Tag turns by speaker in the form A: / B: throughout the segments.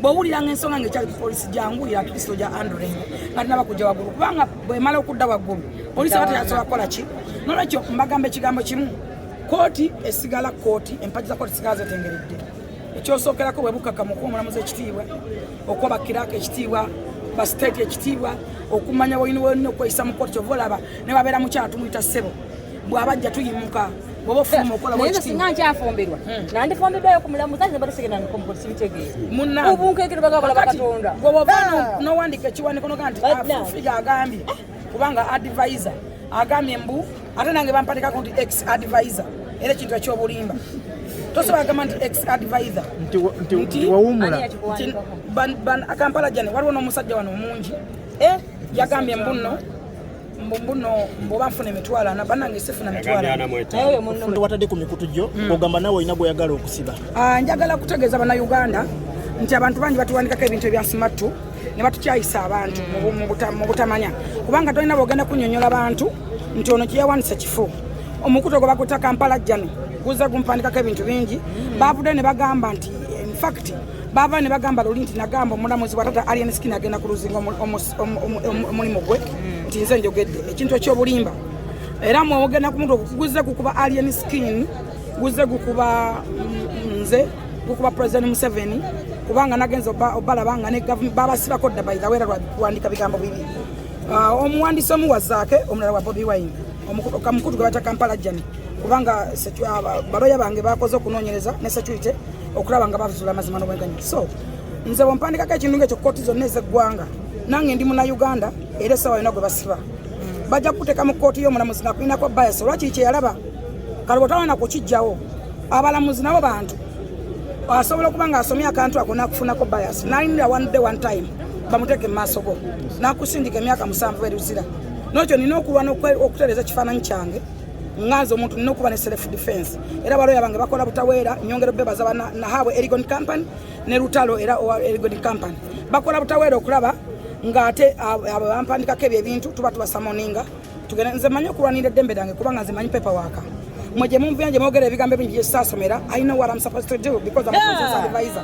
A: bwowulira nga ensonga ngaekyali ku polisi gyanguyira tukiso gya andreng nga tinaba kujja waggulu kubanga bwemala okudda waggulu polisi aba teyasobola kukola ki nolwekyo mbagamba ekigambo kimu kooti esigala kooti empagi za kooti sigala zetengeredde ekyosookerako bwe bukakamu okuwa omulamuzi ekitiibwa okuwa bakiraaka ekitiibwa ba state ekitiibwa okumanya wolina wolina okweyisa mu kooti kyova olaba ne babeera mukyala tumuyita ssebo bwabajja tuyimuka naye nze singa nkyafumbirwa
B: hmm. nandifumbidwayo ku mulamu zange bali sigenda nkomukola sibitegeera obunkekere bagakola bakatonda bwewova ah.
A: nowandika ekiwaniko noga nti afufiga agambye kubanga advisor agambye mbu ate nange bampatikako nti ex advisor era ekintu ekyobulimba tosobola agamba nti ex advisor nti
C: wawumula
A: kampala jane waliwo n'omusajja wano omungi eh, yagambye mbuno mbuno mboba nfuna emitwalo ana banange sifuna mitwalo watadde ku mikutu gyo
C: hmm. ogamba nawe olina gweyagala okusiba ah, njagala kutegeeza
A: banauganda nti abantu bangi batuwandikako ebintu ebyasimattu ne batukyayisa abantu hmm. mu butamanya kubanga tolina bwogenda kunyonyola bantu nti ono kyeyawandisa kifo omukutu ogwo bakuta kampala jjano guza gumpandikako ebintu bingi hmm. bavude ne bagamba nti infact bava ne bagamba luli nti nagamba omulamuzi bwatata alien skin agenda ku luzinga omulimu gwe hmm. nti nze njogedde ekintu ekyobulimba era mwogenda ku muntu guze gukuba alien skin guze gukuba mm, nze gukuba president museveni kubanga nagenza obalaba nga babasibako dda by the way lwandika bigambo bibi ah, omuwandisi omu wa zaake omulala wa bobi wine omukutu gwe bata kampala jani kubanga ah, baloya bange bakoze okunoonyereza ne security okulaba nga bazuula amazima n'obwenkanya so nze bwompandikako ekintu ngaekyo kooti zonna ezeggwanga nange ndi muna uganda era esawa yona gwe basiba bajja kukuteeka mu kooti y'omulamuzi nga kulinako bayasi olwakiri kyeyalaba kale bwotawona kukijjawo abalamuzi nabo bantu asobola okuba nga asomye akantu ako nakufunako bayasi nalinira one day one time bamuteeke mu maaso go nakusindika emyaka musanvu eruzira nokyo nina okulwana okutereza ekifaananyi kyange nganze omuntu nina okuba ne self defense era baloya bange bakola butaweera nyongera bebaza bana nahabwe erigon company ne lutalo era owa erigon company bakola butaweera okulaba nga ate abo bampandikako ebyo ebintu tuba tubasamoninga tugenda nze manyi okulwanira eddembe lyange kubanga nze manyi pepa waaka mwe gye mumvuyanje mwogera ebigambo ebingi gyesaasomera i know what i'm supposed to do because i'm a yeah. advisor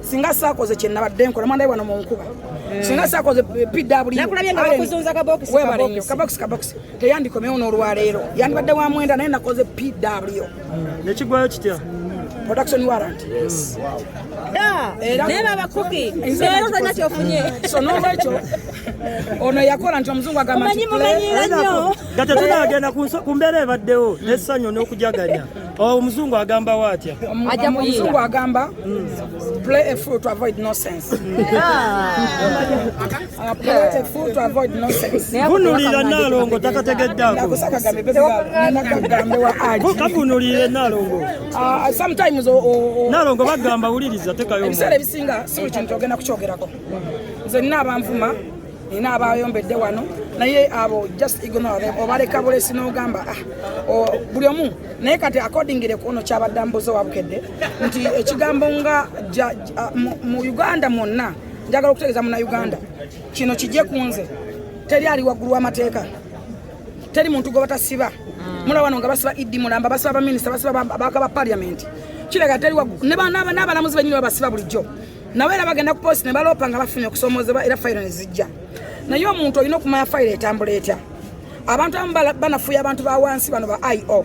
A: singa sakoze kyenabadde nkola mwana wano mu nkuba hmm. singa sakoze
B: pwkaboxkabox
A: teyandikomewo n'olwaleero yandibadde wa mwenda naye nakoze pw hmm. nekigwayo
C: kitya production
A: warrant yes wow da
B: naye baba kuki leero tolina kyofunye so n'olwekyo
A: ono yakola nti omuzungu agamba nti mumanyi mumanyi nnyo gata
C: tunagenda ku mbeera ebaddewo n'essanyu n'okujaganya Oh, omuzungu agamba watya omuzungu
A: agamba hmm. play a fool to avoid nonsense ah. Ah, play a fool to avoid nonsense vunulira nalongo
C: takategeddaako kavunulire nalongo ah, sometimes
A: nalongo
C: bagamba wuliriza tekayo ebiseera ebisinga si buli
A: kintu ogenda kukyogerako nze nina abanvuma nina abayombedde wano naye abo just ignore them obaleka bulesi n'ogamba ah, buli omu naye kati akordingire kuono kyabadde mbuze wabukedde nti ekigambo nga mu uganda mwonna njagala okutegeeza muna uganda kino kijje ku nze teri ali waggulu w'amateeka teri muntu gwe batasiba mm. mulaba wano nga basiba idi mulamba basiba baminisita basiba bakaba parliament kiraga teri n'abalamuzi benyini babasiba bulijjo nabo era bagenda ku polisi ne baloopa nga bafunye okusoomozebwa era fayiro ne zijja naye omuntu olina okumanya fayiro etambula etya abantu abamu banafuya abantu ba wansi bano ba io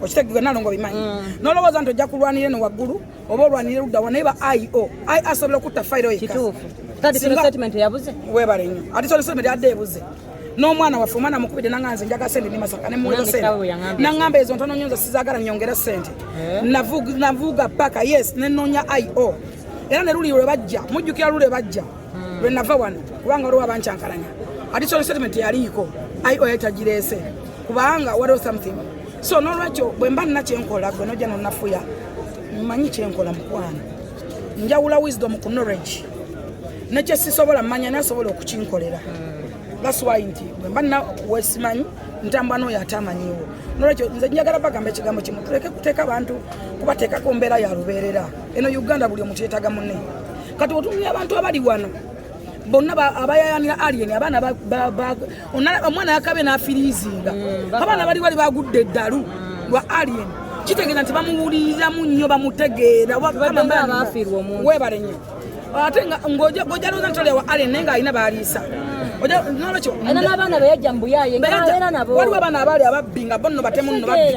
A: okitegeka nalongo bimanyi mm. nolowooza nti ojja kulwanira eno waggulu oba olwanira luddawa naye ba io i asobola okutta fayiro yekka webale nyo ati sona sona adde ebuze n'omwana waffe omwana mukubidde nanga nze njaga sente ndi masaka ne muweza sente nangamba ezo ntono nyo nze sizagala nyongera sente eh? navuga paka yes nenonya io era ne luli lwe bajja mujjukira luli lwe bajja hmm. lwe nava wano kubanga waliwo abankyankalanya additional statement yaliiko io yatagireese kubanga waliwo something so n'olwekyo bwe mba nina kyenkola gwe nojja nonafuya manyi kyenkola mukwano njawula wisdom ku knowledge nekye sisobola manya nasobola okukinkolera that's why nti bwemba nina wesimanyi ntambwa nooyo ate amanyiwo nolwekyo nze njagala bagamba ekigambo kimu tuleke kuteeka abantu kubateekako mbeera ya lubeerera eno uganda buli omuntu yetaga mune kati otunulya abantu abali wano bonna abayayanira alien abaana omwana yakabe n'afiriizinga mm, abaana bali wali bagudde eddalu mm. lwa alien kitegeeza nti bamuwuliriramu nnyo bamutegeera webale nnyo ate ng'ojalooza nti olyawa alien naye ng'alina baliisa mm. nolwekyo
B: waliwo abaana
A: abaali ababbi nga bonno batemu nno babbi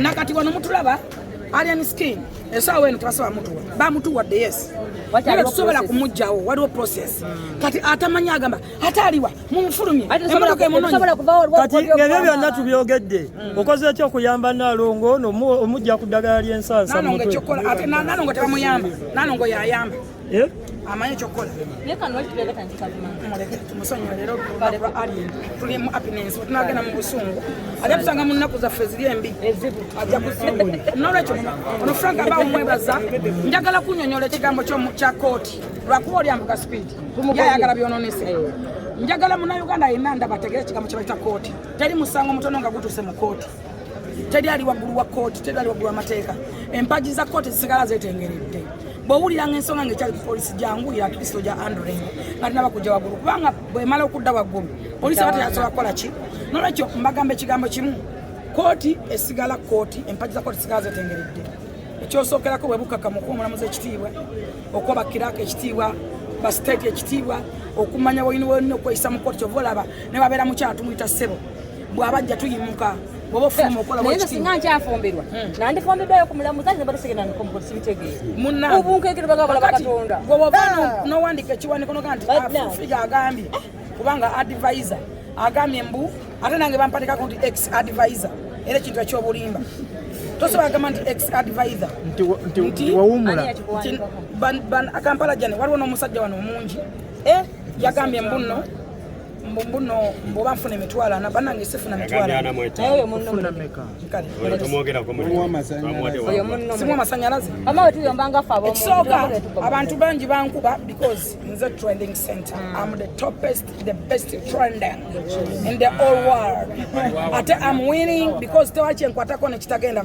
A: nakati wano mutulaba alien skin esaawa eno tebasaba mutuwa bamutuwadde yes era tusobola kumugjawo waliwo process kati atamanyi agamba ate aliwa mumufulumye emotoka emunonyekati
C: ngebyo byonna tubyogedde hmm. okoze ki okuyamba nalongo nomujja ku ddagala lyensansa nanongo ekyokukola ate
A: nanongo tebamuyamba nanongo yayamba Eh? amanyi ekyokukola musonyiwa leero lwa alien tuli mu apinensi wetunagenda mu busungu ajja tusanga mu nnaku zaffe ziri embi ajja nolwekyo ono frank aba omwebaza njagala kunyonyola ekigambo kya kooti lwakuba olyambuka speed yayagala byononese njagala munauganda yenna ndabategere ekigambo kyebaita kooti teri musango mutono nga gutuse mu kooti teri ali waggulu wa kkooti teri ali waggulu wamateeka empagi za kkooti zisigala zetengeredde bwowulira nga ensonga nga ekyali kupolisi jangu ya kristo gya andreng nga tinaba kujja waggulu kubanga bwemala okudda waggulu polisi aba teyasobola kukola ki nolwekyo mbagamba ekigambo kimu kkooti esigala kkooti empagi za kkooti zisigala zetengeredde ekyosookerako bwe bukakamu okuwa omulamuzi ekitiibwa okuwa bakiraako ekitiibwa basiteeti ekitiibwa okumanya bwolina bwolina okweyisa mu kkooti kyova olaba ne babeera mukyala tumuyita ssebo bwabajja tuyimuka singa nkyafumbirwa
B: hmm. nandifumbidwayo kumulamuza nze batusigenda nkomukosibitegeera obunkeekere bagabala bakatonda gwoba ah.
A: nowandika ekiwaniko noga nti afufiga agambye kubanga advisor agambye mbu ate nange bampatikako nti ex advisor era ekintu ekyobulimba tosobola agamba nti ex advisor nti
D: wawumula
A: kampala jane waliwo n'omusajja wano omungi eh? yagambye mbuno mbuno mbuba nfuna emitwalo ana banange sifuna mitwalosimu amasanyalaze ekisooka abantu bangi bankuba because nze trending center hmm. am the topest the best trending in the all world ate am winning because tewakyenkwatako nekitagenda